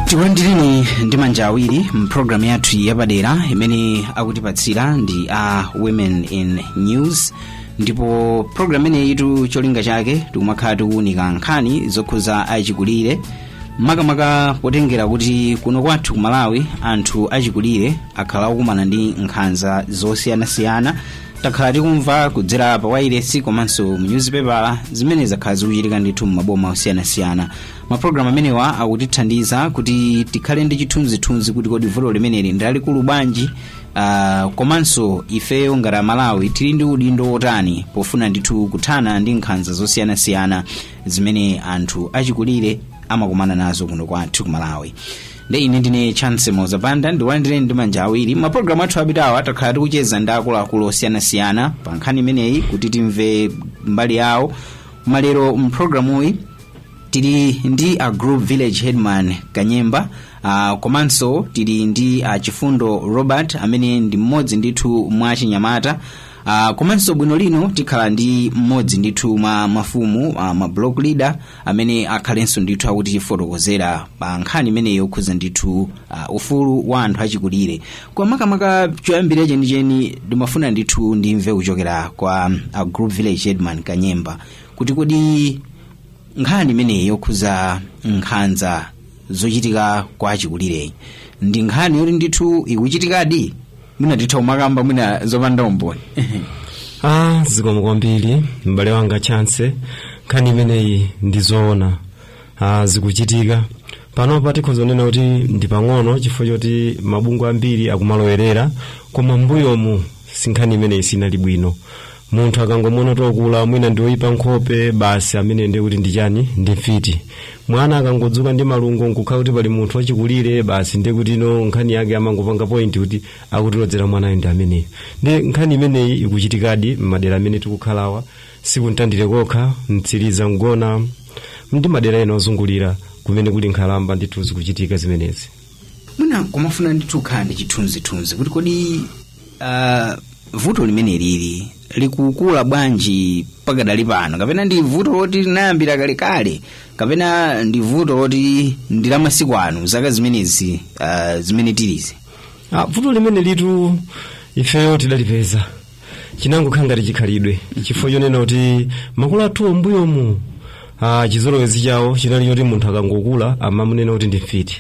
tikulandireni ndi manja awiri mpulogalamu yathu yapadera imene akutipatsira ndi a women in news ndipo pulogalamu imeneyitu cholinga chake tikumakhala tikuwunika nkhani zokhuza achikulire makamaka potengera kuti kuno kwathu ku malawi anthu achikulire akhala akukumana ndi nkhanza zosiyanasiyana takhala tikumva kudzera pa wailesi komanso mu nyuzipepala zimene zakhala zikuchitika ndithu m'maboma osiyanasiyana mapulogalamu amenewa akutithandiza kuti tikhale ndi chithunzithunzi kuti kodi vuto limeneli ndi lalikulu bwanji uh, komanso ifeyo ngati amalawi tili ndi udindo wotani pofuna ndithu kuthana ndi nkhanza zosiyanasiyana zimene anthu achikulire amakumana nazo kuno kwathu ku malawi nde ine ndine chance moza banda ndikulandireni ndi manja awiri mapulogalamu athu apitawa takhala tikucheza ndi akuluakulu osiyanasiyana pa nkhani imeneyi kuti timve mbali yawo malero mpulogalamuyi tili ndi a group village headman kanyemba uh, komanso tili ndi a chifundo robert amene ndi mmodzi ndithu mwa achinyamata uh, komanso bwino lino tikhala ndi mmodzi ndithu mwa mafumu uh, ma block leader amene akhalenso ndithu akutifotokozera pa nkhani imeneyi yokhudza ndithu uh, ufulu wa anthu achikulire kwa makamaka choyambirira chenicheni ndimafuna ndithu ndimve kuchokera kwa a group village headman kanyemba kuti kodi nkhani imeneyi yokhudza nkhanza zochitika kwa achikulireyi ndi nkhani yoti ndithu ikuchitikadi mwina titha kumakamba mwina zopanda umboni ah zikomo kwambiri m'bale wanga chance nkhani imeneyi ndi zoona ah, zikuchitika panopa tikhoza kunena kuti ndi pang'ono chifukwa choti mabungwe ambiri akumalowerera koma mbuyomu si nkhani imeneyi sinali bwino munthu akangomuona ndi okula mwina ndi oyipa nkhope basi ameneyo ndiye kuti ndi chani ndi mfiti mwana akangodzuka ndi malungo nkukhala kuti pali munthu wachikulire basi ndiye kuti no nkhani yake amangopanga point kuti akutilodzera mwanayo ndi ameneyo ndi nkhani imeneyi ikuchitikadi m'madera amene tikukhalawa si ku mtandire kokha mtsiliza mgona ndi madera ena ozungulira kumene kuli nkhalamba ndithu zikuchitika zimenezi mwina nkumafuna ndithu kukhala ndi chithunzithunzi kuti kodi uh, vuto limeneli likukula bwanji pakadali pano kapena ndi vuto loti linayambira kalekale kapena ndi vuto loti ndi la masiku ano zaka zimenezi uh, zimene tilizi Ah, vuto limenelitu ifeyo tidalipeza chinangokhala ngati chikhalidwe chifukwa chonena kuti makolo athu mbuyomu ah, chizolowezi chawo chinali choti munthu akangokula amamunena kuti ndi mfiti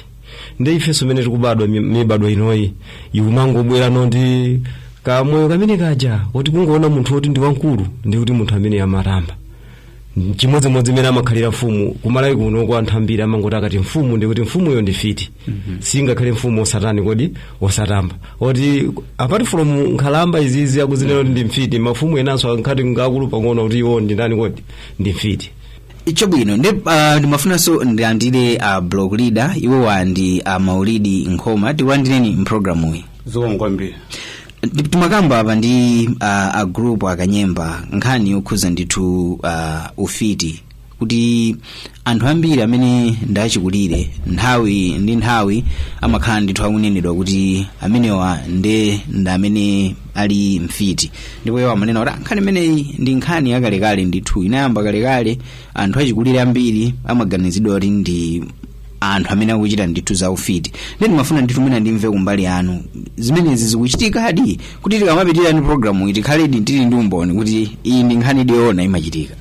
nde ifenso mene tikubadwa mi- mibadwa inoyi ikumangobweranso ndi kamoyo kamene kaja kuti kungoona munthu woti ndi wamkulu ndi kuti munthu amene amatamba chimodzimodzi mmene amakhalira mfumu kumalawi kuno kwa anthu ambiri amangoti akati mfumu ndikuti mfumuyo ndi mfiti siingakhale mfumu osatani kodi osatamba oti apart from nkhalamba izizi akuzinena kuti ndi mfiti mafumu enanso akakhala ngakulu pang'ono kuti iwo ndi ndani kodi ndi mfiti chabwino ndi uh, ndimafunanso ndilandire uh, block leader iwowa ndi a maulidi nkhoma tikulandireni mpulogalamuyi zikomo kwambiri timakamba apa ndi uh, a group kanyemba nkhani yokhuza ndithu uh, ufiti kuti anthu ambiri amene ndachikulire nthawi ndi nthawi amakhala ndithu akunenedwa kuti amenewa nde ndi amene ali mfiti ndipo iwo amanena kuti "Ah, nkhani imeneyi ndi nkhani yakalekale ndithu inayamba kalekale anthu achikulire ambiri amaganiziridwa kuti ndi anthu amene akuchita ndithu za ufiti nde ndimafuna ndithu mwina ndimve kumbali yanu zimenezi zikuchitikadi kuti tikamapitira ndi programu iyi tikhaledi tili ndi umboni kuti iyi ndi nkhani yedi yoona imachitika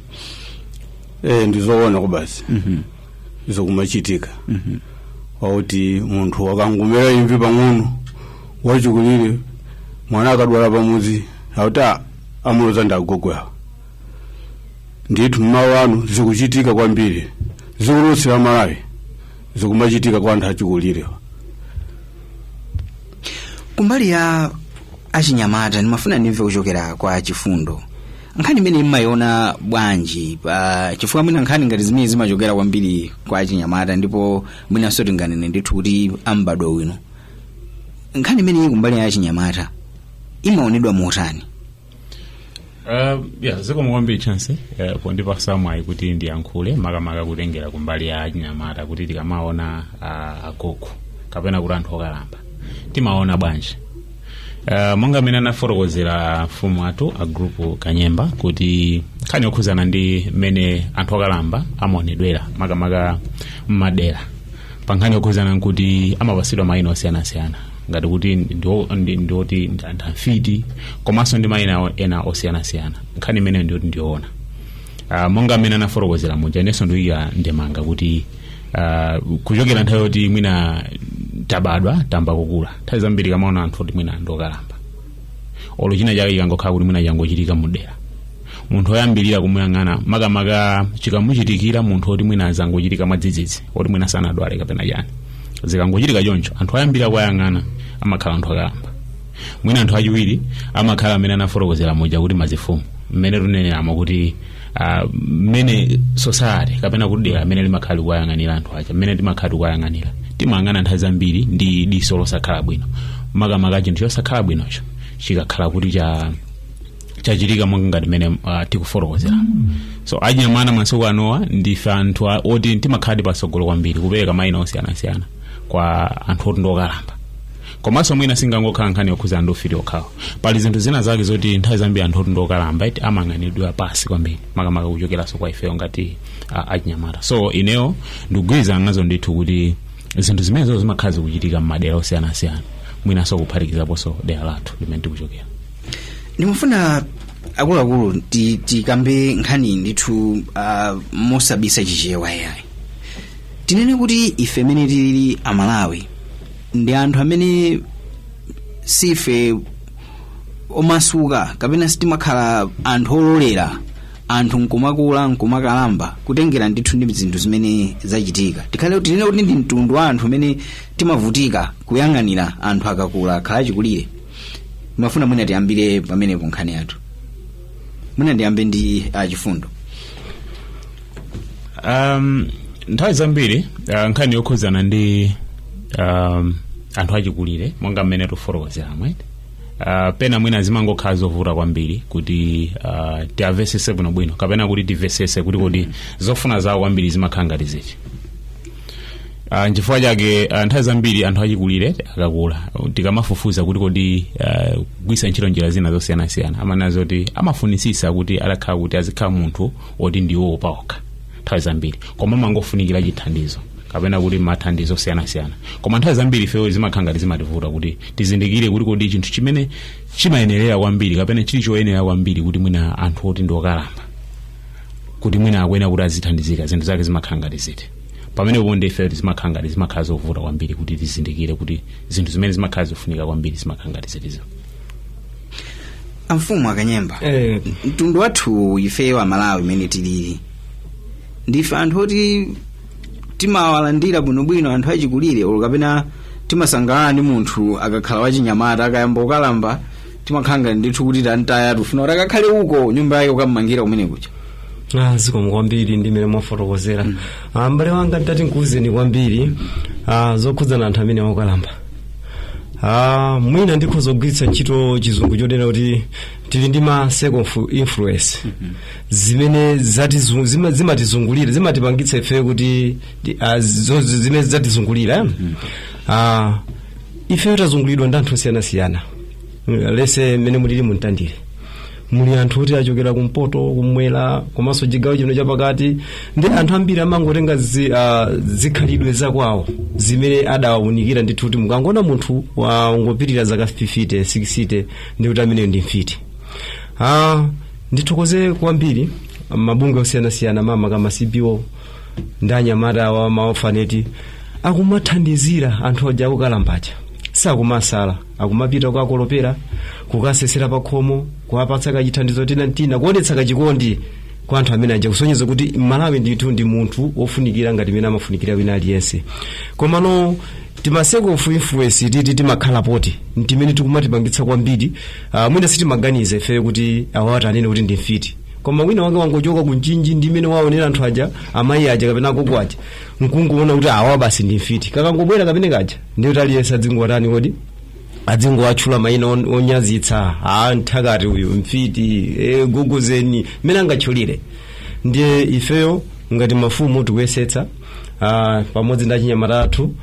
eh ndizoona kwabasi zikumachitika zakuti munthu akangomera imvi pang'ono wachikulire mwana akadwala pamudzi akuti amuloza ndagogowa ndithu mmawu anu zikuchitika kwambiri zikulutsira malawi zikumachitika kwa anthu achikulire kumbali ya achinyamata ndimafuna ndimve kuchokera kwa chifundo nkhani imeneyi mmayiona bwanji pa chifukwa mwina nkhani ngati zimenezi zimachokera kwambiri kwa achinyamata ndipo mwinanso tinganene ndithu kuti am'badwo uno nkhani imeneyi kumbali ya achinyamata imaonedwa motani Uh, yeah, zikomo kwambiri chance uh, pondipasa mwayi kuti ndiyankhule makamaka kutengera kumbali ya achinyamata kuti tikamaona uh, agogo kapena kuti anthu okalamba timaona bwanji uh, monga mmene anafotokozera mfumu athu a group kanyemba kuti nkhani yokhuzana ndi mmene anthu okalamba amaonedwera makamaka mmadera pa nkhani yokhuzana nkuti amapasidwa mayina osiyanasiyana ngati kuti ndio- ndi- ndioti ndi anthu afiti komanso ndi mayina ena osiyanasiyana nkhani imeneyo ndioti ndiyoona uh, monga mmene anafotokozera muja inenso ndikuika ndemanga kuti uh, kuchokera nthawi yoti mwina tabadwa tamba kukula nthawi zambiri tikamaona anthu oti mwina ndokalamba olo china chake chikangokhala kuti mwina changochitika mudera munthu oyambirira kumuyang'ana makamaka chikamuchitikira munthu oti mwina azangochitika mwadzidzidzi oti mwina sanadwale kapena chani zikangochitika choncho anthu oyambirira kuwayang'ana amakhala anthu akalamba mwina anthu achiwiri amakhala amene anafotokozera muja kuti mafumu mmene tuneneramo kuti ah, mmene society kapena kuti dera mmene limakhala likuwayang'anira anthu aja mmene timakhala tikuwayang'anira timayang'ana nthawi zambiri ndi diso losakhala bwino makamaka chinthu chosakhala bwinocho chikakhala kuti cha chachitika monga ngati mmene uh, tikufotokozera so achinyamata masiku anowa ndife anthu a- oti timakhaladi patsogolo kwambiri kupereka maina osiyanasiyana kwa anthu oti ndiokalamba komanso mwina sinangokhala nkhani yokhuzana ndi ufiti okhawu pali zinthu zina zake zoti nthawi zambiri anthu oti ndiokalamba eti amayang'aniridwa pansi kwambiri makamaka kuchokeranso kwa ifeyo ngati uh, achinyamata so ineyo ndikugwirizana nazo ndithu kuti zinthu zimenezo zimakhala zikuchitika m'madera osiyanasiyana mwinanso kuphatikizaponso dera lathu limene tikuchokera ndimafuna akuluakulu ti- tikambe nkhani ndithu uh, mosabisa chichewa yayi tinene kuti ife amene tili amalawi ndi anthu amene sife omasuka kapena sitimakhala anthu ololera anthu nkumakula nkumakalamba kutengera ndithu ndi zinthu zimene zachitika tikhale tinene kuti ndi mtundu wa anthu amene timavutika kuyang'anira anthu akakula akhala achikulire ndimafuna mwina tiyambire pamenepo nkhani yathu mwina ndiyambe ndi achifundo um, nthawi zambiri uh, nkhani yokhudzana ndi um, anthu achikulire monga mmene tikufotokozeramo uh, pena mwina zimangokhala zovuta kwambiri kuti uh, tiamvesese bwinobwino kapena kuti timvesese kuti kodi zofuna zawo kwambiri zimakhala ngati ziti Ah, nchifukwa chake ah, nthawi zambiri anthu achikulire akakula tikamafufuza kuti kodi ah, kugwiritsa ntchito njira zina zosiyanasiyana amanena zoti amafunisisa kuti atakhala kuti azikhala munthu woti ndiwo paokha nthawi zambiri koma amangofunikira chithandizo kapena kuti mathandizo osiyanasiyana koma nthawi zambiri ifeyo zimakhala ngati zimativuta kuti tizindikire kuti kodi chinthu chimene chimayenerera kwambiri kapena chili choyenerera kwambiri kuti mwina anthu oti ndi okalamba kuti mwina akuyenera kuti azithandizika zinthu zake zimakhala ngati ziti pamenepo nde ife zimakhala ngati zimakhala zovuta kwambiri kuti tizindikire kuti zinthu zimene zimakhala zofunika kwambiri zimakhala ngati ziti so amfumu akanyemba Eh. mtundu wathu ifeyo amalawi mmene tilili ndife anthu oti timawalandira bwinobwino anthu achikulire olo kapena timasangalala ndi munthu akakhala wachinyamata akayamba kukalamba timakhala ngati ndithu kuti tamtaya tufuna kuti akakhale uko nyumba yake kukammangira kumene kuja Ah, zikomo kwambiri ndi mmene mwafotokozera Ah, m'bale wanga nditati nkuwuzeni kwambiri ah, zokhudzana anthu amene okalamba Ah, mwina ndikhoza kugwiritsa ntchito chizungu chonena kuti tili ndi ma circle of influence zimene zatizu- zima- zimatizungulira zimatipangitsa ife kuti ti- ah, zo- zimene zatizungulira eh? Ah, ifeyo tazungulidwa ndi anthu osiyanasiyana lese mmene mulili mu Mtandire muli anthu oti achokera kumpoto kumwera komanso chigawo chino chapakati ndi anthu ambiri amangotenga zi, uh, zikhalidwe zakwawo zimene adawaunikira ndithu kuti mukangoona munthu wangopitirira zaka 50 60 ndi kuti ameneyo ndi mfiti uh, ndithokoze kwambiri mabungwe osiyanasiyana mama ka ma CBO ndi anyamata awa ma orphanage akumathandizira anthu aja akukalamba aja sakumawasala akumapita kukakolopera kukasesera pakhomo kuwapatsa kachithandizo tina ntina kuonetsa kachikondi kwa anthu amene aja kusonyeza kuti malawi ndithu ndi munthu wofunikira ngati mene amafunikira wina aliyense komano tima circle of influence titi timakhala poti ntimene tikumatipangitsa kwambiri uh, mwina sitimaganiza ifeyo kuti awa ati anene kuti ndi mfiti koma wina wake wangochoka ku Mchinji ndi mmene waonera anthu aja amayi aja kapena agogo aja nkungoona kuti awa basi ndi mfiti kakangobwera kamphepo kaja ndiye kuti aliyense adzingowatani kodi adzingowatchula mayina on- onyazitsa a nthakati uyu mfiti e, gogozeni mmene angatchulire ndiye ifeyo ngati mafumu tikuyesetsa ah, pamodzi ndi achinyamata athu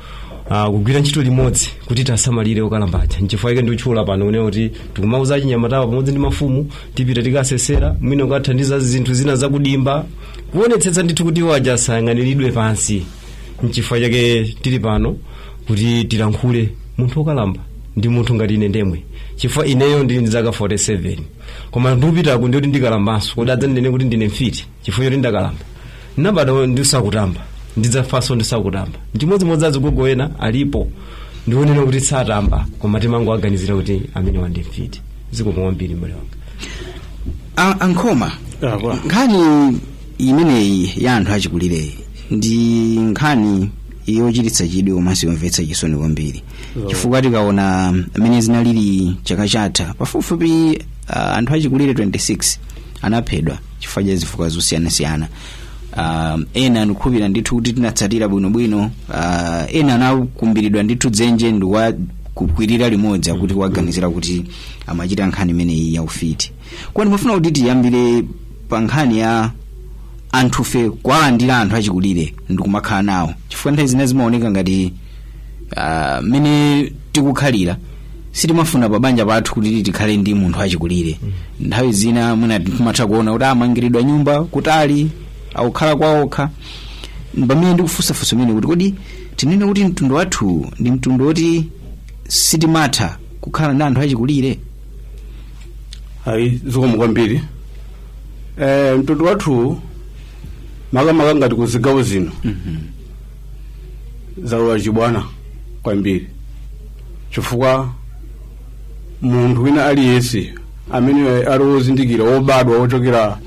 ah, kugwira ntchito limodzi kuti tiwasamalire okalamba aja nchifukwa chake ndikutchula pano kunena kuti tikumawauza achinyamatawa pamodzi ndi mafumu tipite tikasesera mwina kukathandiza zinthu zina zakudimba kuonetsetsa ndithu kuti iwo aja asayang'aniridwe pansi nchifukwa chake tili pano kuti tilankhule munthu wokalamba ndi munthu ngati ine ndemwe chifukwa ineyo ndili ndi zaka 47 koma ndikupitako ndikuti ndikalambanso kodi adzandinene kuti ndine mfiti chifukwa choti ndakalamba nabadwa ndisakutamba ndidzafanso ndisakutamba ndimodzimodzi azigogo ena alipo ndikunena kuti satamba koma timangowaganizira kuti amenewa ndi mfiti zikomo kwambiri mbale wanga A- a Nkhoma nkhani imeneyi ya anthu achikulireyi ndi nkhani yochititsa chidwi komanso yomvetsa chisoni kwambiri chifukwa tikaona mmene zinalili chaka chatha pafupifupi ah, anthu achikulire 26 anaphedwa chifukwa cha zifukwa zosiyanasiyana um, ena ndikukhulupirira ndithu kuti tinatsatira bwinobwino uh, ena anakumbiridwa ndithu dzenje ndi kuwakwirira limodzi akuti kuwaganizira kuti amachita nkhani imeneyi ya ufiti koma ndimafuna kuti tiyambire pa nkhani ya anthufe kuwalandira anthu achikulire ndi kumakhala nawo chifukwa nthawi zina zimaoneka ngati ah, mmene tikukhalira sitimafuna pa banja pathu kuti tikhale ndi munthu achikulire nthawi zina mwina timatha kuona kuti amangiridwa nyumba kutali akukhala kwaokha pamene ndikufunsafunsa pamene kuti kodi tinene kuti mtundu wathu ndi mtundu woti sitimatha kukhala ndi anthu achikulire ayi zikomo kwambiri eh, mtundu wathu makamaka ngati ku zigawo zino zalowa chibwana kwambiri chifukwa munthu wina aliyense amene ali wozindikira wobadwa wochokera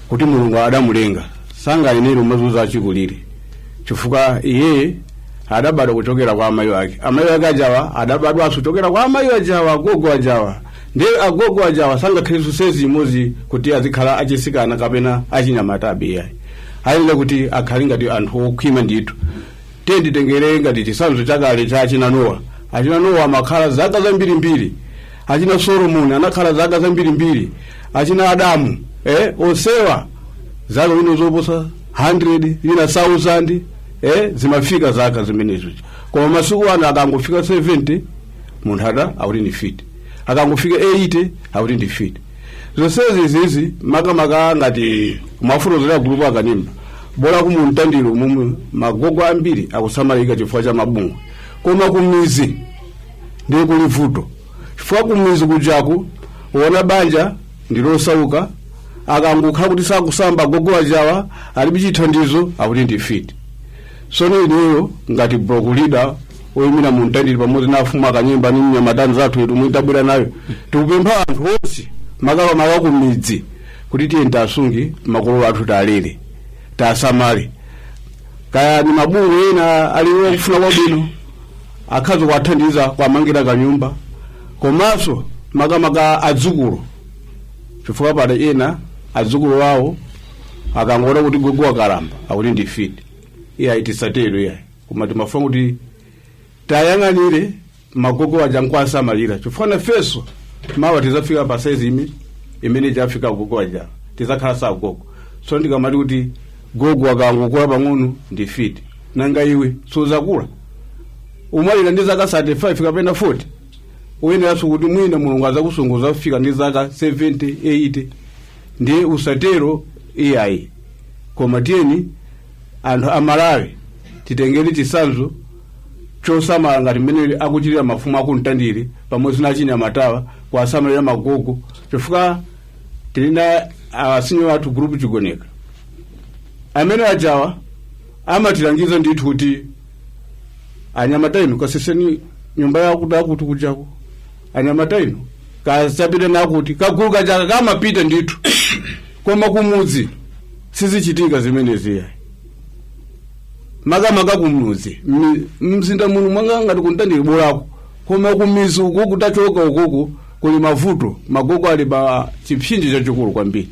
kuti mulungu adamulenga sangayenera kumazunza achikulire chifukwa iye adabadwa kuchokera kwa amayi ake amayi ake ajawa adabadwanso kuchokera kwa amayi ajawa gogo ajawa ndi agogo ajawa sangakhalenso saizi imodzi kuti azikhala achisikana kapena achinyamata ayi iyayi ayenera kuti akhale ngati anthu okhwima ndithu tiyeni titengere ngati chisanzo chakale cha achina nowa achina nowa amakhala zaka zambirimbiri achina solomoni anakhala zaka zambirimbiri achina adamu eh, onsewa zaka zino zoposa 100 ina 1000 eh, zimafika zaka zimenezo koma masiku ano akangofika 70 munthu ada akuti ndi fiti akangofika 80 akuti ndi fiti zonsezi izizi makamaka ngati mmafotokozera gulupu a Kanyemba bola ku Mtandire komwe magogo ambiri akusamalika chifukwa cha mabungwe koma kumizi ndiye kuli vuto chifukwa kumizi kujaku wona banja ndilosauka akangokhala kuti sakusamba gogo ajawa alibe chithandizo akuti ndi fiti sono ineyo ngati block leader oyimira mu Mtandire pamodzi na afumu akanyemba ni mnyamata nzathu yetu mwini tabwera nayo tikupempha anthu onse makamaka ku midzi kuti tiyeni tasunge makolo athu talere tasamale kaya ni mabungwe ena ali okufuna kwabwino akhoza kuwathandiza kuwamangira kanyumba komanso makamaka adzukulu chifukwa pali ena adzukulu awo akangoona kuti gogo wakalamba akuti ndi fiti iyayi tisatero iyayi koma timafuna kuti tayang'anire magogo aja nkuwasamalira chifukwa nafenso mawa tizafika pa saizi imene jafika agogo aja tizakhala so agogo so tikamati kuti gogo akangokula pang'ono ndi fiti nanga iwe suzakula umwalira ndi zaka 35 kapena 40 uyeneranso kuti mwina mulungu azakusunguza kufika ndi zaka 70 80 ndiye usatero iyayi koma tiyeni anthu a malawi titengere chisanzo chosamala ngati mmene akuchitira mafumu a ku mtandire pamodzi na achinyamatawa kuwasamalira magogo chifukwa tili na asinyo wathu group chigoneka amene ajawa amatilangiza ndithu kuti anyamata inu kaseseni nyumba yakuti akuti kujako anyamata inu kachapireni akuti kagulu kajaka kamapita ndithu koma kumudzi sizichitika zimenezi yayi makamaka kumudzi Mmi- mzinda muno mwanga ngati ku mtandire bolako koma kumizi uku kutachoka ukuku kuli mavuto magogo ali pa chipsinjo chachikulu kwambiri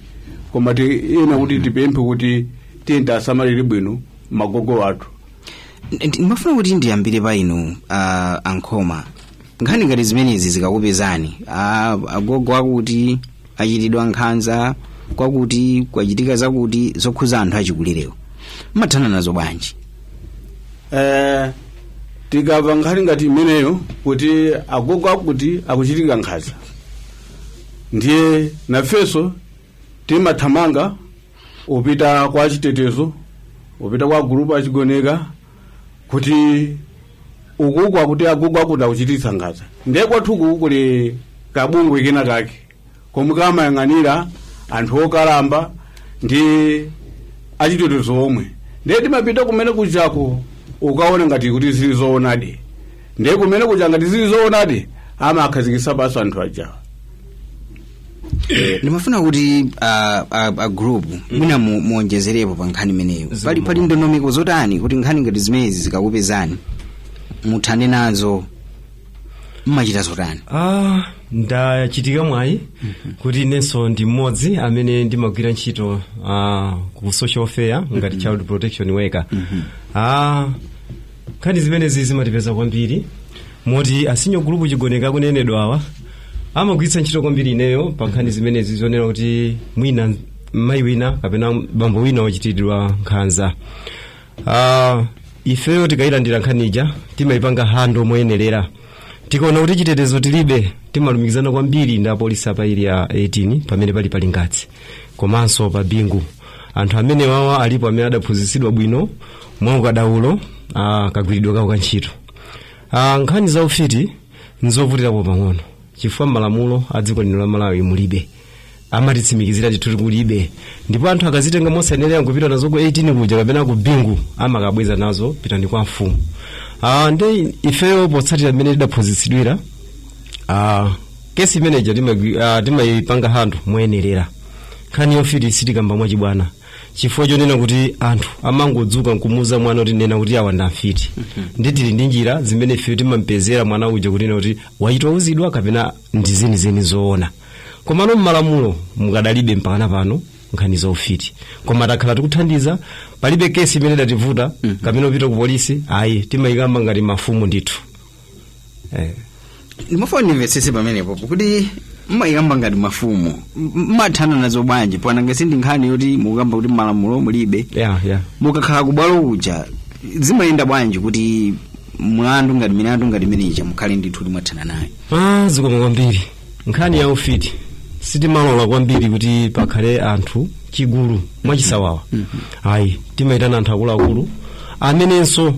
koma ti ena kuti tipemphe kuti tiyeni tiwasamalire bwino magogo athu Ndi- ndimafuna kuti ndiyambire pa inu uh, a nkhoma nkhani ngati zimenezi zikakupezani a- agogo akuti achitidwa nkhanza kwakuti kwachitika zakuti zokhuza anthu achikulirewo mmathana nazo bwanji eh, tikava nkhani ngati imeneyo kuti agogo akuti akuchitika nkhanza ndiye nafenso timathamanga upita kwa chitetezo upita kwa gulupu achigoneka kuti ukuku akuti agogo akuti akuchititsa nkhanza ndiye kwathu kuku kuli kabungwe kena kake komwe kamayang'anira anthu okalamba ndi achitetezo omwe ndiye timapita kumene kujako ukaona ngati kuti zili zoonadi ndiye kumene kuja ngati zili zoonadi amawakhazikitsa pansi anthu ajawa ndimafuna kuti a, a, a group mwina mu- muonjezerepo pa nkhani imeneyo pali pali ndondomeko zotani kuti nkhani ngati zimenezi zikakupezani muthane nazo mmachita zotani ah ndachitika mwayi kuti inenso ndi mmodzi amene ndimagwira ntchito ah, ku social welfare ngati child protection worker ah nkhani zimenezi zimatipeza kwambiri moti asinyo gulupu chigoneka akunenedwa awa amagwiritsa ntchito kwambiri ineyo pa nkhani zimenezi zonena kuti mwina mayi wina kapena bambo wina wachitiridwa nkhanza Ah, ifeyo tikayilandira nkhani ija timayipanga handle moyenerera tikaona kuti chitetezo tilibe timalumikizana kwambiri ndi apolisi a pa area 18 pamene pali pa lingadzi komanso pa bingu anthu amenewawa alipo amene adaphunzitsidwa bwino mwa ukadaulo ah, kagwiridwe kawo ka ntchito ah, nkhani za ufiti nzovutirapo pang'ono chifukwa mmalamulo a dziko lino la malawi mulibe amatitsimikizira ndithu kulibe ndipo anthu akazitenga mosayenera kupita nazo ku 18 kuja kapena ku bingu amakabweza nazo pitani kwa mfumu ah, nde ifeyo potsatira mmene tidaphunzitsidwira ah, kesi imeneja timagwi- ah, timayipanga handle moyenerera nkhani yofiti sitikamba mwachibwana chifukwa chonena kuti anthu amangodzuka nkumuza mwana kuti nena kuti awa ndamfiti nde tili ndi njira zimene ife timampezera mwana uja kunena kuti wachita kuwuzidwa kapena ndi zenizeni zoona komano mmalamulo mukadalibe mpakana pano nkhani za ufiti koma takhala tikuthandiza palibe kesi imene idativuta kapena upita ku polisi ayi timayikamba ngati mafumu ndithu eh. ndimafuna ndimvetsetse pamenepo kuti mmayikamba ngati mafumu M- mmathana nazo bwanji paja nanga si ndi nkhani yoti mukukamba kuti malamulo mulibe yeah, yeah. mukakhala kubwalo uja zimayenda bwanji kuti mlandu ngati milandu ngati imeneja mukhale ndithu kuti mwathana nayo ah, zikomo kwambiri nkhani ya ufiti sitimalola kwambiri kuti pakhale anthu chigulu mwachisawawa ayi timaitana anthu akuluakulu amenenso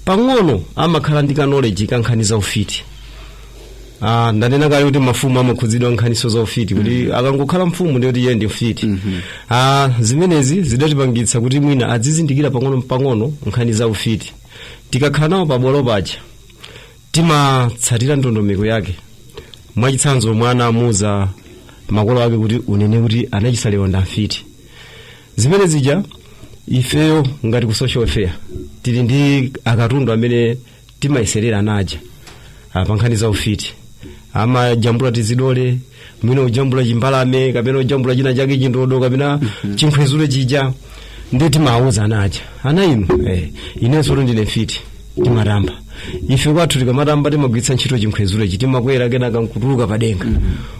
pang'ono amakhala ndi kanoleji ka nkhani za ufiti Ah, ndanena kale kuti mafumu amakhudzidwa nkhaninso za ufiti kuti akangokhala mfumu ndiye kuti iye ndi mfiti ah, zimenezi zidatipangitsa kuti mwina adzizindikira pang'ono pang'ono nkhani za ufiti tikakhala nawo pabwalo paja timatsatira ndondomeko yake mwachitsanzo mwana amuuza makolo ake kuti unene kuti anachisalewa ndamfiti zimene zija ifeyo ngati ku social welfare tili ndi akatundu amene timayeserera ana aja ah, pa nkhani za ufiti amajambula tizidole mwina ujambula chimbalame kapena ujambula china chake chindodo kapena chinkhwezule chija ndiye timawuza ana aja ana inu eh, inenso kuti ndine mfiti timatamba ife kwathu tikamatamba timagwiritsa ntchito chinkhwezule chi timakwera kenaka nkutuluka padenga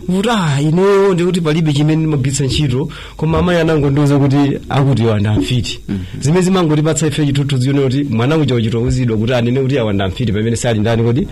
kuti ah ineyo ndikuti palibe chimene ndimagwiritsa ntchito koma amayi anangondiuza kuti akuti iwo ndi amfiti zimenezo zimangotipatsa ife chithunzi chonena kuti mwana uja wachita kuwuzidwa kuti anene kuti awa ndi amfiti pamene sali ndani kodi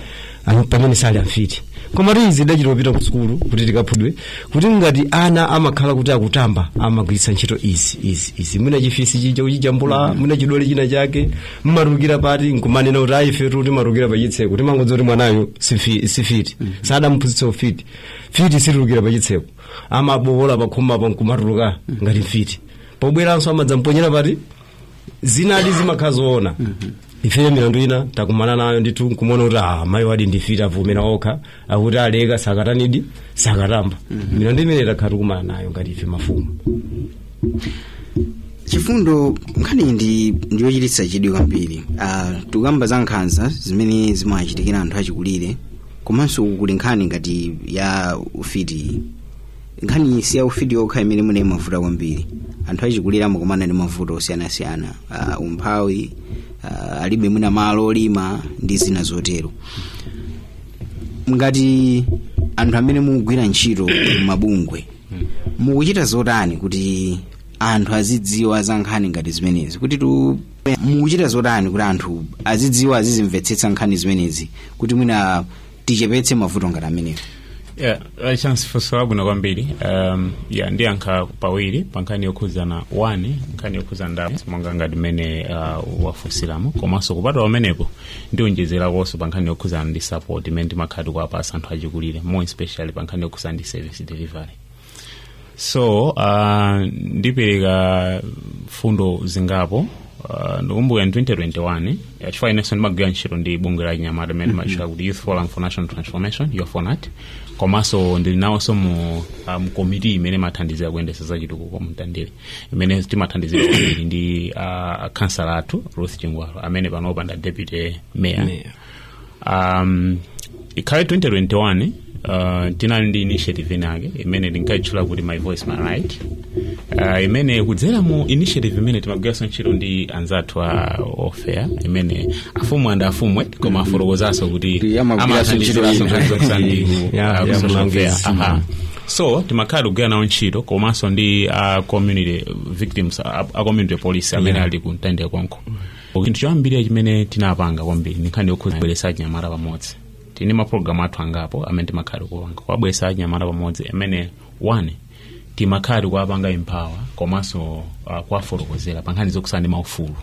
Am- pamene sali amfiti koma kuti izi tidachita kupita ku sukulu kuti tikaphunzire kuti ngati ana amakhala kuti akutamba amagwiritsa ntchito izi izi izi mwina chifisi chija kuchijambula mwina chidole china chake mmatulukira pati nkumanena kuti ayi ifetu timatulukira pachitseko timangodziwa kuti mwanayo sifi- sifiti sadamphunzitsa ufiti mfiti situlukira pachitseko amabowola pakhomapa nkumatuluka ngati mfiti pobweranso amadzamponyera pati zinali zimakhala zoona ifeyo milandu ina takumana nayo ndithu nkumaona kuti ah, mayi awadi ndi mfiti avomera okha akuti aleka sakatani sakatamba milandu imene takhala tikumana nayo ngati ife mafumu chifundo nkhani ndi ndiyochititsa chidwi kwambiri Ah, tikukamba za nkhanza zimene zimachitikira anthu achikulire komanso kuli nkhani ngati ya ufiti nkhani si ya ufiti yokha imene muli mavuto kwambiri anthu achikulire amakumana ndi mavuto osiyanasiyana uh, umphawi uh, alibe mwina malo olima ndi zina zotero ngati anthu amene mukugwira ntchito mabungwe mukuchita zotani kuti anthu azidziwa za nkhani ngati zimenezi kuti tu mukuchita zotani kuti anthu azidziwa azizimvetsetsa nkhani zimenezi kuti mwina tichepetse mavuto ngati amenewo Yeah, uh, chance funso labwino kwambiri um, yeah, ndiyankha pawiri pa nkhani yokhudzana one nkhani yokhudzana ndi ndalama monga ngati mmene uh, wafunsiramu komanso kupatula pamenepo ndionjezerakonso pa nkhani yokhudzana ndi support imene timakhala tikuwapasa anthu achikulire more especially pa nkhani yokhudzana ndi service delivery so uh, ndipereka fundo zingapo uh, ndikumbuka in 2021 eh, chifukwa inenso ndimagwira ntchito ndi bungwe la chinyamata limene timatchula kuti youth forum for national transformation YOFONAT komanso ndili nawonso mu uh, mkomiti imene imathandizira kuyendesa za chitukuko mtandire imene timathandizana kwambiri ndi uh, kansala athu ruth chingwalo amene panopa nda deputy mayor Mayor. um, in 2021 uh, tinali ndi initiative inake imene tinkayitchula kuti my voice my right uh, imene kudzera mu initiative imene timagwiranso ntchito ndi anzathu a welfare imene afumu and afumwe koma afotokozanso kuti Kuti amagwiranso ntchito amathandiziraso iyi. nkhani zokusambiri Yeah, uh, ku yeah, social welfare. mlangizi. Aha. so timakhala tikugwira nawo ntchito komanso ndi a community victims a, a community police amene ali ku mtandire konko chinthu choyambirira chimene tinapanga kwambiri ndi nkhani yokhudza kubweretsa achinyamata pamodzi tili ndi mapulogalamu athu angapo amene timakhala tikupanga kuwabweretsa achinyamata pamodzi amene one timakhala tikuwapanga empower komanso uh, kuwafotokozera pa nkhani zokhudzana ndi maufulu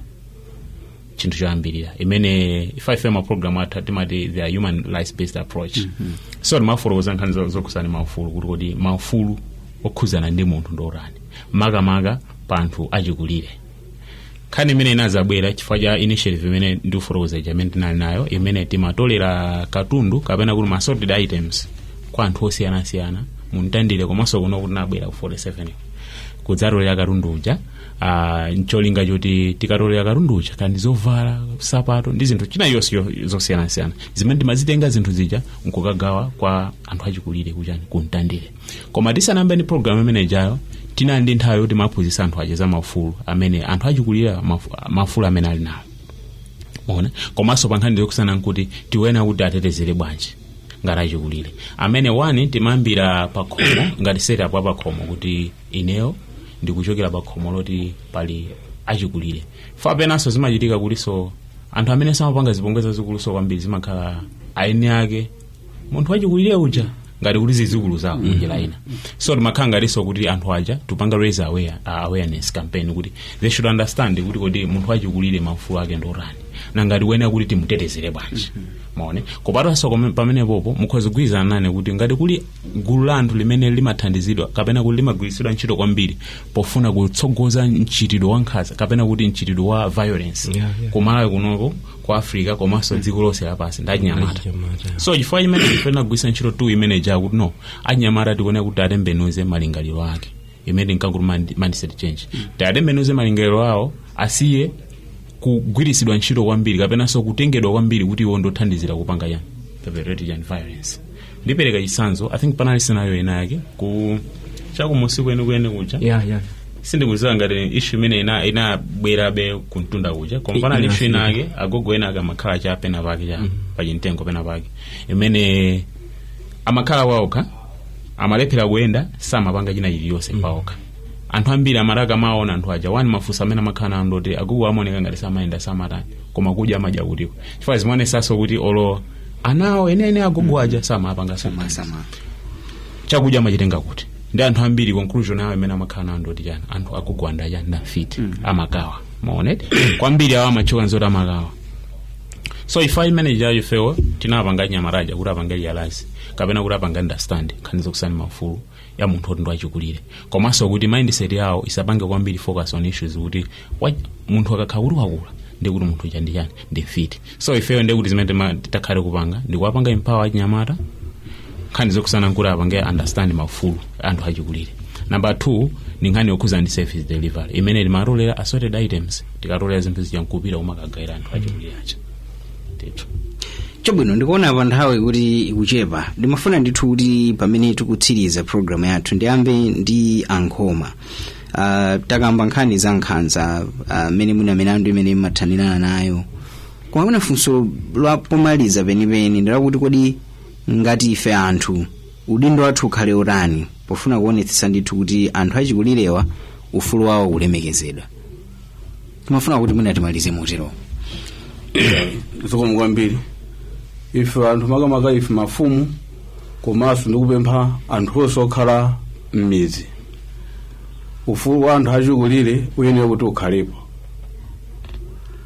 chinthu choyambirira imene ife ife mapulogalamu athu timati the human rights based approach so timafotokoza nkhani zo- zokhudzana ndi maufulu kuti kodi maufulu okhudzana ndi munthu ndi otani makamaka pa anthu achikulire nkhani imene inazabwera chifukwa cha initiative imene ndikufotokoza ija imene tinali nayo imene timatolera katundu kapena kuti ma assorted items kwa anthu osiyanasiyana muntandire komanso kuno kuti tinabwera ku 47 kudzatolera katundu uja ah, ncholinga choti tikatolera katundu uja kaya ndi zovala sapato ndi zinthu zina zonse yo- zosiyanasiyana zimene timazitenga zinthu zija nkukagawa kwa anthu achikulire kuchani kuntandire koma tisanayambe ndi programu imenejayo tinali ndi nthawi yoti timaphunzitsa anthu aja za maufulu amene anthu achikulire mafu- maufulu amene ali nawo one komanso pa nkhani zokhudzana nkuti tiwone kuti tiatetezere bwanji ngati achikulire amene one timayambira pakhomo ngati setup ya pakhomo kuti ineyo ndikuchokera pakhomo poti pali achikulire chifukwa penanso zimachitika kutinso anthu amene amapanga zipongwe zazikuluso kwambiri zimakhala eni ake munthu wachikulire uja ngati kuti zizukulu zawo njira ina so timakhala ngatinso kuti anthu aja tupanga raise aware, uh, awareness campaign kuti they should understand kuti kodi munthu wachikulire maufulu ake ndotani ndi ngati wena kuti timutetezere bwanji maone kupatanso kome- pamenepopo mukhoza kugwirizana nane kuti ngati kuli gulu la anthu limene limathandizidwa kapena kuti limagwiritsidwa ntchito kwambiri pofuna kutsogoza mchitidwe wa nkhanza kapena kuti mchitidwe wa violence Yeah, yeah. kumalawi kunoko ku africa komanso dziko lonse lapansi ndi achinyamata so chifukwa chimene tifuna kugwiritsa ntchito tool imene ija kuti no achinyamata tikuona kuti atembenuze malingaliro ake imene ndinkakuti mind- mindset change tiatembenuze malingaliro awo asiye kugwiritsidwa ntchito kwambiri kapenanso kutengedwa kwambiri kuti iwo ndothandizira kupanga chani perpetrate chani violence ndipereka chitsanzo i think panali scenario ina yake ku chakumudzi kwenikweni kuja yeah, yeah. sindikuziwa ngati ishu imene ina- inabwerabe kumtunda kuja koma I- panali ishu ina inafika. yake agogo ena ake amakhala cha pena pake cha pachimtengo pena pake imene amakhala waokha amalephera kuyenda samapanga china chiliyonse paokha anthu ambiri amati akamaona anthu aja wani mafunso amene amakhala nawo ndoti agogo amaoneka ngati samayenda samatani koma kudya amadya kutiko chifukwa zimaonesanso kuti olo ana awo enieni agogo aja samapanga samasa Sama. chakudya amachitenga kuti ndi anthu ambiri conclusion yawo imene amakhala nawo ndoti chani anthu agogo aja ndi chani ndafiti amakaba maoneti kwambiri awo amatchuka nzoti amakaba so ife aim yathu ndi yoti ifewo tiwapange anyamata aja kuti apange realize kapena kuti apange understand nkhani zokhudzana ndi maufulu ya munthu oti ndi wachikulire komanso kuti mindset yawo isapange kwambiri focus on issues kuti Wa- munthu akakhala kuti wakula ndikuti munthu uja ndi chani ndi mfiti so ifeyo ndekuti zimene tima- titakhale kupanga ndikuwapanga empower achinyamata nkhani zokhudzana nkuti apange understand maufulu a anthu achikulire namba two ndi nkhani yokhuza ndi service delivery imene timatolera assorted items tikatolera zinthu zija nkupita kumakagawira anthu achikulire aja ndithu chabwino ndikuona pa nthawi kuti ikuchepa ndimafuna ndithu kuti pamene tikutsiriza programu yathu ndiyambe ndi ankhoma uh, takamba nkhani za nkhanza mmene uh, mwina milandu imene mumathanirana nayo koma mwina funso la pomaliza penipeni ndilakuti kodi ngati ife anthu udindo wathu ukhale utani pofuna kuonetsetsa ndithu kuti anthu achikulirewa ufulu wawo ulemekezedwa timafuna kuti mwina timalize motero zikomo kwambiri ife anthu makamaka ife mafumu komanso ndikupempha anthu onse okhala m'midzi ufulu wa anthu achikulire uyenera kuti ukhalepo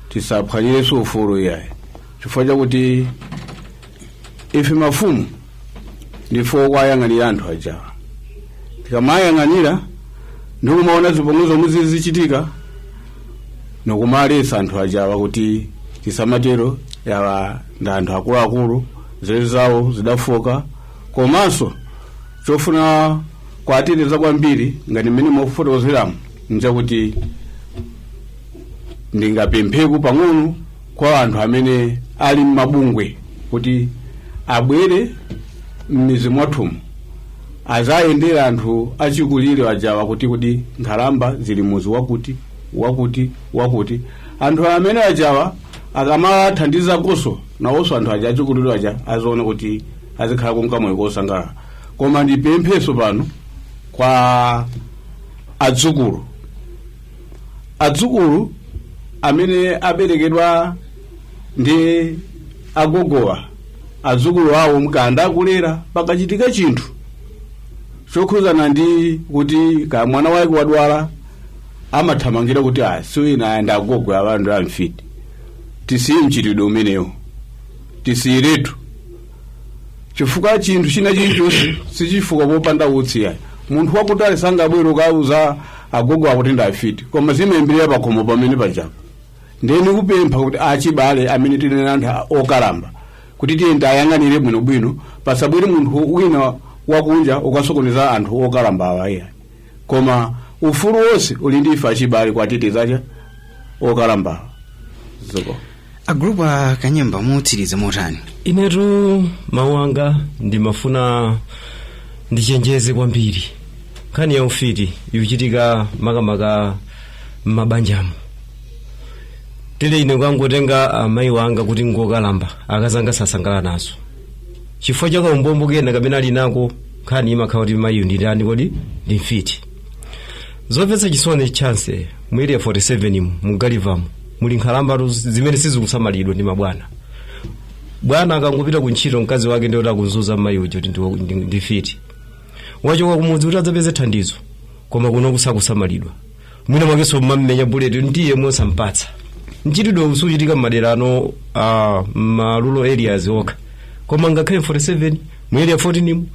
tisaphwanyirenso ufulu iyayi chifukwa chakuti ife mafumu ndife okwayang'anira anthu ajawa tikamayang'anira ndikumaona zipongwe zomwe zizichitika nkumalesa anthu ajawa kuti tisamatero yawa ndi anthu akuluakulu nzeru zawo zidafooka komanso chofuna kuwateteza kwambiri ngati mmene mukufotokozeramu nchakuti ndingapempheku pang'ono kwa anthu amene ali m'mabungwe kuti abwere m'mizi mwathumu azayendera anthu achikulire ajawa kuti kuti nkhalamba zili muzi wakuti wakuti wakuti anthu amene ajawa akamawathandizakonso nawonso anthu aja achikulire aja aziona kuti azikhala kunka moyo wosangalala koma ndipempheso pano kwa adzukulu adzukulu amene aberekedwa ndi agogowa adzukulu awo mkanda akulera pakachitika chinthu chokhudzana ndi kuti ka mwana wake wadwala amathamangira kuti ah siwina awa ndi agogowa anthu amfiti tisiye mchitidwe umenewo tisiyiretu chifukwa chinthu china chilichonse sichifuka popanda utsi yayi munthu wakutali sangabwere ukauza agogo akuti ndafiti koma zimayambirira pakhomo pamene pajapo ndiye ndikupempha kuti achibale amene tili ndi anthu okalamba kuti tiyeni tiwayang'anire bwinobwino pasabwere munthu wina wakunja ukasokoneza anthu okalamba awa iyayi koma ufulu wonse uli ndi ife achibale kwateteza okalamba awa zikomo agulupu a kanyemba mutsiriza motani inetu mawu anga ndimafuna ndichenjeze kwambiri nkhani ya ufiti ikuchitika makamaka m'mabanjamu tile ine kukangotenga amayi wanga kuti ngokalamba akazanga sasangala nazo chifukwa cha kaumbombo kena kapena ali nako nkhani imakhala kuti mayiyu ndi ndani kodi ndi mfiti zomvetsa chisoni chinanso mu area 47 mu mu galivamu muli nkhalambatu zimene sizikusamalidwa ndi mabwana bwana akangopita ku ntchito mkazi wake ndiye kuti akumuzunza mmayi uja kuti ndiwo- ndi- ndi mfiti wachoka kumudzi kuti adzapeze thandizo koma kuno sakusamalidwa mwina mwakenso amamenya buledi ndiye osampatsa mchitidwe usukuchitika mmadera ano a marural areas okha koma ngakhale 47 mu area 14 mu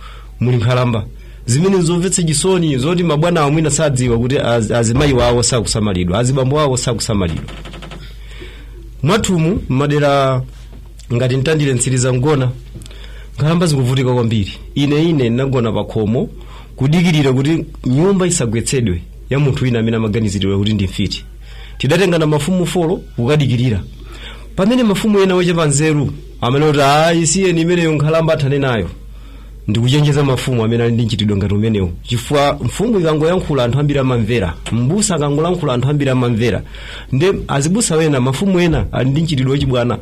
muli nkhalamba zimene zomvetsa chisoni zoti mabwana awo mwina sadziwa kuti az, azimayi wawo sakusamalidwa azibambo wawo sakusamalidwa mwathumu mmadera ngati mtandire mtsiriza mgona nkhalamba zikuvutika kwambiri ine ine ndinagona pa khomo kudikirira kuti nyumba isagwetsedwe ya munthu wina amene amaganiziridwa kuti ndi mfiti tidatengana mafumu folo kukadikirira pamene mafumu ena ochepa nzeru amene kuti isiyeni imeneyo nkhalamba athane nayo ndikuchenjeza mafumu amene ali ndi mchitidwe ngati umenewu chifukwa mfumu ikangoyankhula anthu ambiri amamvera mbusa akangolankhula anthu ambiri amamvera nde azibusa ena mafumu ena ali ndi mchitidwe wachibwana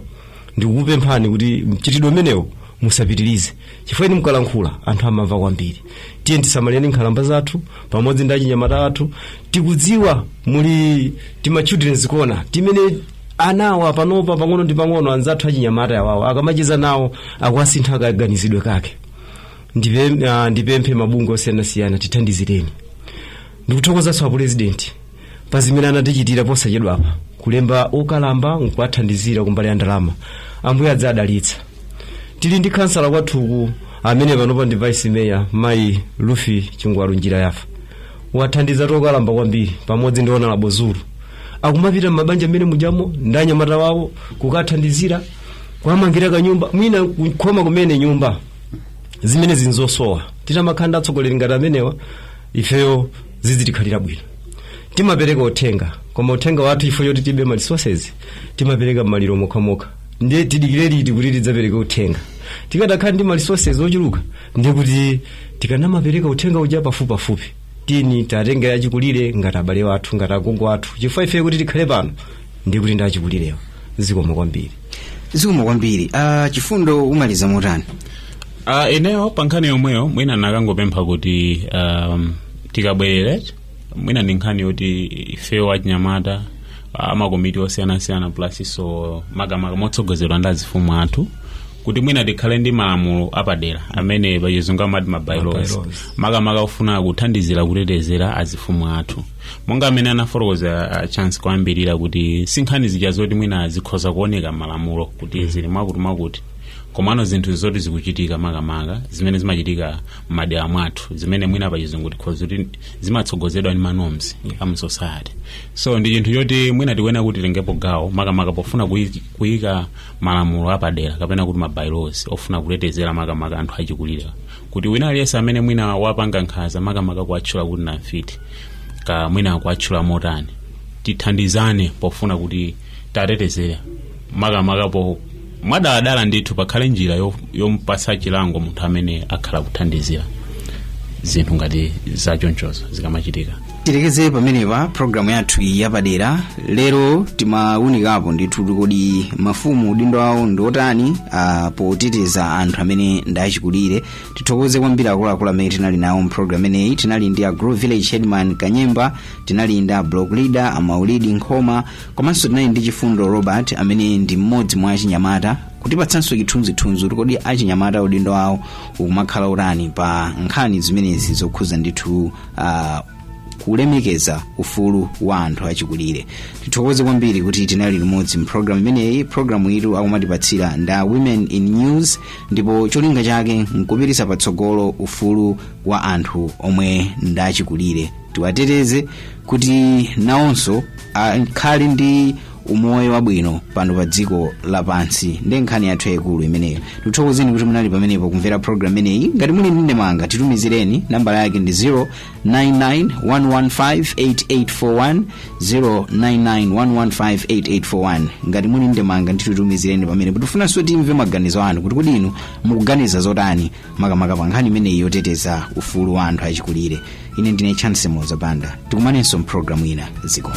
ndikukupemphani kuti mchitidwe umenewo musapitirize chifukwa inu mukalankhula anthu amamva kwambiri tiye tisamalireni nkhalamba zathu pamodzi ndi achinyamata athu tikudziwa muli tima children's corner timene anawa panopa pang'ono ndi pang'ono anzathu achinyamata awawo akamacheza nawo akuwasintha kaganizidwe kake Ndipe- ah, ndipemphe mabungwe osiyanasiyana tithandizireni ndikuthokozanso apurezidenti pa zimene anatichitira posachedwapa kulemba okalamba nkuwathandizira kumbali ya ndalama ambuye adzadalitsa tili ndi khansala kwathuku amene panopa ndi vice mayor mayi Ruth Chingwalu Njirayafa wathandiza okalamba kwambiri pamodzi ndi Honourable Zulu akumapita m'mabanja mmene mujamo ndi anyamata wawo kukathandizira kuwamangira kanyumba mwina kukhoma kumene nyumba zimene zili zosowa titamakhala ndi atsogoleri ngati amenewa ifeyo zizitikhalira bwino timapereka uthenga koma uthenga wathu ifeyo poti tilibe ma resources timapereka m'maliro mokhamokha ndiye tidikire liti kuti tidzapereke uthenga tikadakhala ndi ma resources ochuluka ndiye kuti tikanamapereka uthenga uja pafupipafupi tiyeni tiwatenge achikulire ngati abale wathu ngati agogo athu chifukwa ife kuti tikhale pano ndiye kuti ndi achikulirewa zikomo kwambiri zikomo kwambiri uh, chifundo umaliza motani uh, ineyo pa nkhani yomweyo mwina ndikangopempha kuti um, tikabwerere mwina ndi nkhani yoti ifeyo achinyamata a makomiti osiyanasiyana plus-nso makamaka motsogozedwa ndi azifumu athu kuti mwina tikhale ndi malamulo apadera amene pachizungu amati ma by-laws ma by-laws makamaka ofuna kuthandizira kutetezera azifumu athu monga mmene anafotokoza ah, chance koyambirira kuti sinkhani zija zoti mwina zikhoza kuoneka malamulo kuti zili mwakuti mwakuti komano zinthu zoti zikuchitika makamaka zimene zimachitika m'madera mwathu zimene mwina pachizungu tikhoza kuti zimatsogozedwa ndi manorms a mu society so ndi chinthu choti mwina tikuyenera kuti titengepo gawo makamaka pofuna kuyi- kuyika malamulo apadera kapena kuti mabylaws ofuna kutetezera makamaka anthu achikulire kuti wina aliyense amene mwina wapanga nkhanza makamaka kuwatchula kuti ndi amfiti kaya mwina kuwatchula motani tithandizane pofuna kuti tiwatetezere makamaka po mwadala ndithu pakhale njira yo- yompasa chilango munthu amene akhala kuthandizira zinthu ngati zachonchozo zikamachitika tilekeze pamenepa programu yathu iyi yapadera lero timawunikapo ndithu kodi mafumu udindo wawo ndi otani ah, poteteza anthu amene ndi achikulire tithokoze kwambiri akuluakulu amene tinali nawo mpulogalamu imeneyi tinali ndi a group village headman kanyemba tinali ndi a block leader amaulidi nkhoma komanso tinali ndi chifundo robert amene ndi mmodzi mwa achinyamata kutipatsanso chithunzithunzi kuti kodi achinyamata udindo wawo ukumakhala wotani pa nkhani zimenezi zokhuza ndithu uh, kulemekeza ufulu wa anthu achikulire tithokoze kwambiri kuti tinali limodzi mpulogalamu imeneyi pulogalamu yitu akumatipatsira nda women in news ndipo cholinga chake nkupititsa patsogolo ufulu wa anthu omwe ndachikulire tiwateteze kuti nawonso akhale ndi umoyo wabwino pano pa dziko lapansi ndi nkhani yathu yayikulu imeneyo tithokozeni kuti munali pamenepo kumvera program imeneyi ngati muli ndi ndemanga titumizireni nambala yake ndi 0991158841 0991158841 ngati muli ndemanga ndithu titumizireni pamenepo tifunanso timve maganizo anu kuti kodi inu mukuganiza zotani makamaka pa nkhani imeneyi yoteteza ufulu wa anthu achikulire ine ndine chance moza banda tikumanenso mpulogalamu ina zikomo